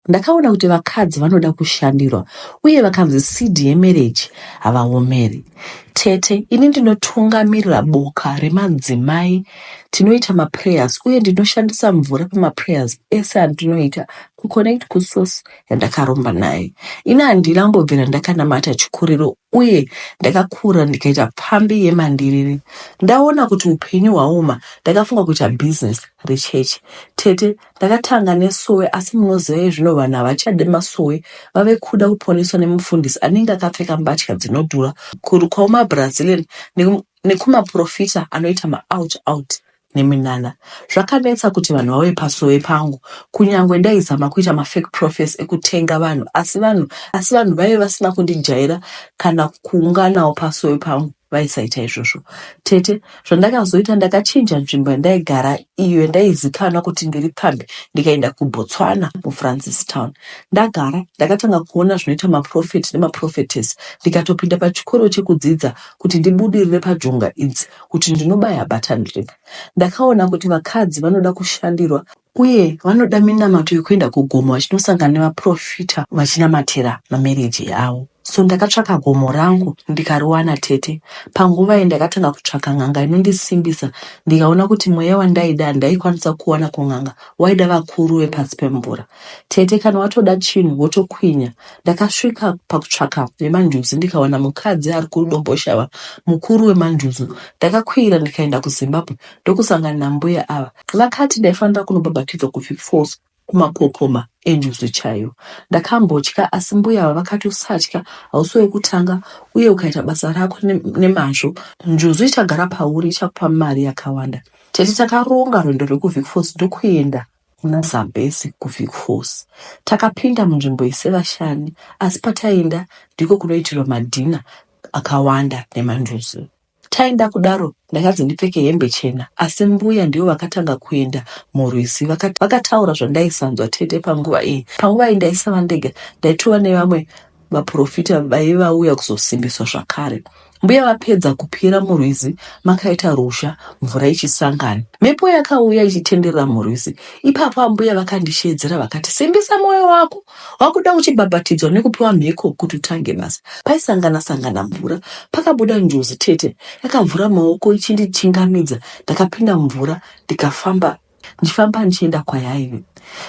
Ndakaona kuti vakadzi vanoda kushandirwa uye vakanzi seed yemereji havaomeri. Tete, ini ndinotungamirira boka remadzimai, tinoita maprayers uye ndinoshandisa mvura pamaprayers ese andinoita kuconnect kusource yandakaromba naye. Ini handina kumbobvira ndakanamata chikuriro uye ndakakura ndikaita pfambi yemandiriri. Ndaona kuti upenyu hwaoma ndakafunga kuita business rechechi. Tete, Ndakatanga nesowe asi munoziva iye zvino vanhu havachade masowe vave kuda kuponeswa nemufundisi anenge akapfeka mbatya dzinodhura, kurukwa kumaBrazilian neku, nekumaporofita anoita maout out neminana. Zvakanetsa kuti vanhu vauye pasowe pangu kunyangwe ndaizama kuita mafake profes ekutenga vanhu asi vanhu asi vanhu vaive vasina kundijaira kana kuunganawo pasowe pangu vaisaita izvozvo. Tete Zvandakazoita ndakachinja nzvimbo yandaigara iyo yandaizikanwa kuti ndiri pfambi ndikaenda kuBotswana muFrancistown. Ndagara ndakatanga kuona zvinoita maprofeti nemaprofetesi ndikatopinda pachikoro chekudzidza kuti ndibudirire pajonga idzi kuti ndinobaya button rip. Ndakaona kuti vakadzi vanoda kushandirwa uye vanoda minamato yekuenda kugomo vachinosangana nevaprofita vachinamatira mamereji avo so ndakatsvaka gomo rangu ndikariwana tete panguva iyi ndakatanga kutsvaka n'anga inondisimbisa ndikaona kuti mweya wandaida handaikwanisa kuwana kun'anga waida vakuru vepasi pemvura tete kana watoda chinhu wotokwinya ndakasvika pakutsvaka vemanjuzu ndikawana mukadzi ari kudomboshava mukuru wemanjuzu ndakakwira ndikaenda kuzimbabwe ndokusangana nambuya ava vakati ndaifanira kunobhabhatidzwa kuvic falls kumapopoma enjuzu chaiyo ndakambotya asi mbuya ava vakati usatya hausi wekutanga uye ukaita basa rako nemazvo njuzu ichagara pauri ichakupa mari yakawanda tete takaronga rwendo rwekuvic falls ndokuenda kuna zambesi kuvic falls takapinda munzvimbo isevashani asi pataienda ndiko kunoitirwa madhina akawanda nemanjuzu Taenda kudaro ndakanzi ndipfeke hembe chena asi mbuya ndivo vakatanga kuenda murwizi vakati vakataura zvandaisanzwa tete panguva iyi. Panguva iyi ndaisava ndega ndaitova nevamwe vaprofita vaive vauya kuzosimbiswa zvakare. Mbuya vapedza kupira murwizi makaita ruzha mvura ichisangana. Mhepo yakauya ichitenderera murwizi. Ipapo ambuya vakandisheedzera vakati simbisa moyo wako Wakuda uchibhabhatidzwa nekupiwa mhiko kuti utange basa. Paisangana sangana mvura pakabuda njuzu tete yakavhura maoko ichindichingamidza ndakapinda mumvura ndikafamba ndichifamba ndichienda kwayaive.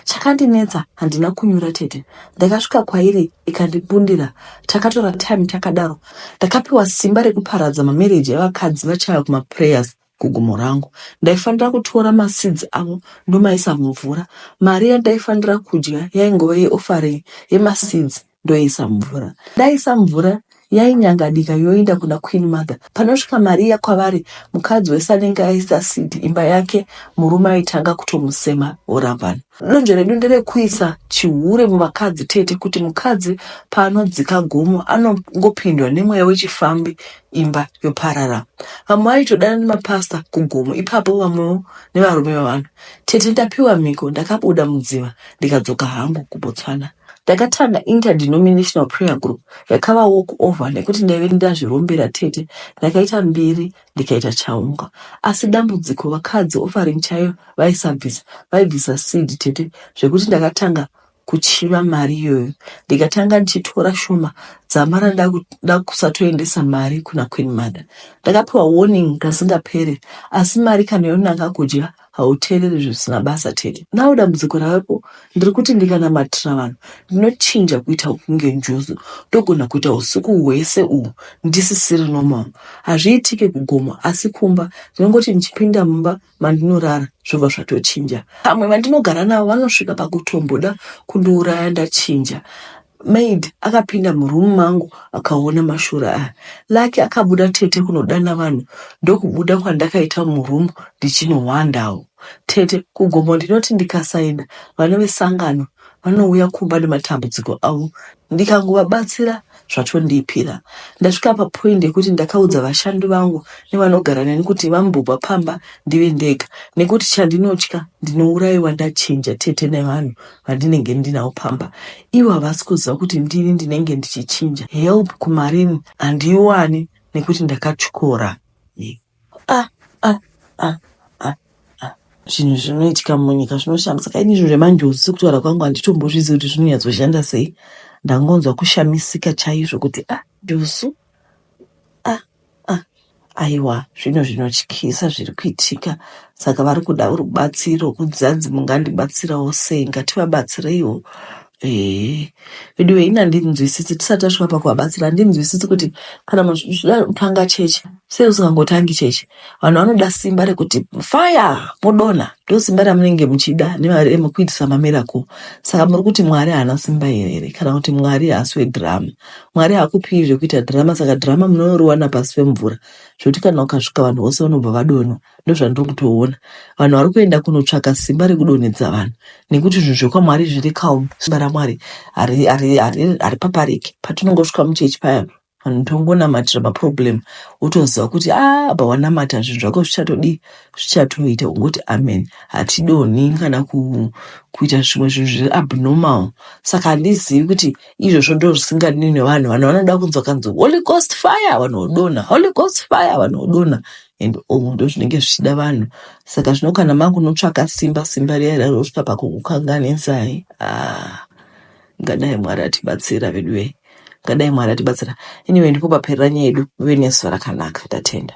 Chakandinetsa handina kunyura tete ndakasvika kwairi ikandibundira takatora time takadaro ndakapiwa simba rekuparadza mamereji evakadzi vachaya kumaprayers Kugomo rangu. Ndaifanira kutora maseeds avo ndomaisa mumvura. Mari yandaifanira kudya yaingove yeoffering yemaseeds ndoiisa mumvura. Ndaisa mvura yainyangadika yoinda kuna Queen Mother. Panosvika mari iya kwavari, mukadzi wese anenge aisa seed imba yake, murume aitanga kutomusema vorambana. Donzvo redu nderekuisa chihure muvakadzi tete kuti mukadzi paanodzika gomo anongopindwa nemweya wechifambi imba yoparara. Vamwe vaitodana nemapasta kugomo ipapo vamwewo nevarume vavanhu. Tete ndapiwa mhiko ndakabuda mudziva ndikadzoka hangu kuBotswana. Ndakatanga interdenominational prayer group yakava walk over nekuti ndaive ndazvirombera tete ndakaita mbiri ndikaita chaunga asi dambudziko vakadzi offering chaiyo vaisabvisa vaibvisa seed tete zvekuti ndakatanga kuchiva mari iyoyo ndikatanga ndichitora shoma dzamara ndakusatoendesa mari kuna queen mother ndakapiwa warning kasingapere asi mari kana yonanga kudya hauteereri zvisina basa tete now dambudziko ravepo ndiri kuti ndikanamatira vanhu ndinochinja kuita kunge njuzu ndogona kuita usiku hwese uhu ndisisiri normal hazviitike kugomo asi kumba ndinongoti ndichipinda mumba mandinorara zvobva zvatochinja pamwe vandinogara navo vanosvika pakutomboda kundiuraya ndachinja Maid akapinda muroom mangu akaona mashura aya. Lucky akabuda tete kunodana vanhu ndokubuda kwandakaita muroom ndichinohwandawo. Tete kugomo ndinoti ndikasaina vana vesangano vanouya kumba nematambudziko avo ndikangovabatsira zvatondipira. Ndasvika papoint yekuti ndakaudza vashandi vangu nevanogara neni kuti vambobva pamba ndive ndega nekuti chandinotya ndinouraiwa ndachinja tete nevanhu vandinenge ndinawo pamba ivo havasi kuziva kuti ndini ndinenge ndichichinja help kumarini handiiwani nekuti ndakatyora ah, ah, ah, ah, ah. zvinhu zvinoitika munyika zvinoshamisa kaini izvo zvemanjozi sekutaura kwangu handitombozvizivi kuti zvinonyatsoshanda sei ndangonzwa kushamisika chaizvo kuti ah josu Ah, ah, aiwa zvinhu zvinotyisa zviri kuitika saka vari kuda rubatsiro kudzi hanzi mungandibatsirawo sei ngativabatsireiwo Eh, veduwe ini handinzwisisi tisati tasvika pakuvabatsira handinzwisisi kuti kana munhu zvichida kutanga chechi sei usingangotangi chechi vanhu vanoda simba rekuti fire modonha ndo simba ramunenge muchida nemari emu kuitisa mamirako saka muri kuti mwari haana simba here here kana kuti mwari haasi wedhiramu Mwari hakupiwi zvekuita drama saka drama munoriwana pasi pemvura zvekuti kana ukasvika vanhu vose vanobva vadonha ndozvandiri kutoona vanhu vari kuenda kunotsvaka simba rekudonhedza vanhu nekuti zvinhu zvekwamwari zviri calm simba ramwari hari- hari- hari- haripapariki patinongosvika muchechi paya vanhu tongonamatira maproblem wotoziva kuti "Ah, apa wanamata zvinhu zvako zvichatodii zvichatoita ungoti amen hatidonhi kana ku, kuita zvimwe zvinhu zviri abnormal saka handizivi kuti izvozvo ndo zvisingadini nevanhu vanhu vanoda kunzwa kanzi holy ghost fire vanhu vodonha holy ghost fire vanhu vodonha and oh ndo zvinenge zvichida vanhu saka zvino kana makunotsvaka simba simba riya riya rosvika pakukukanganisai ah ngadai mwari atibatsira veduwe ngadai mwari atibatsira anyway ndipo paperera nyaya yedu muve nesu rakanaka tatenda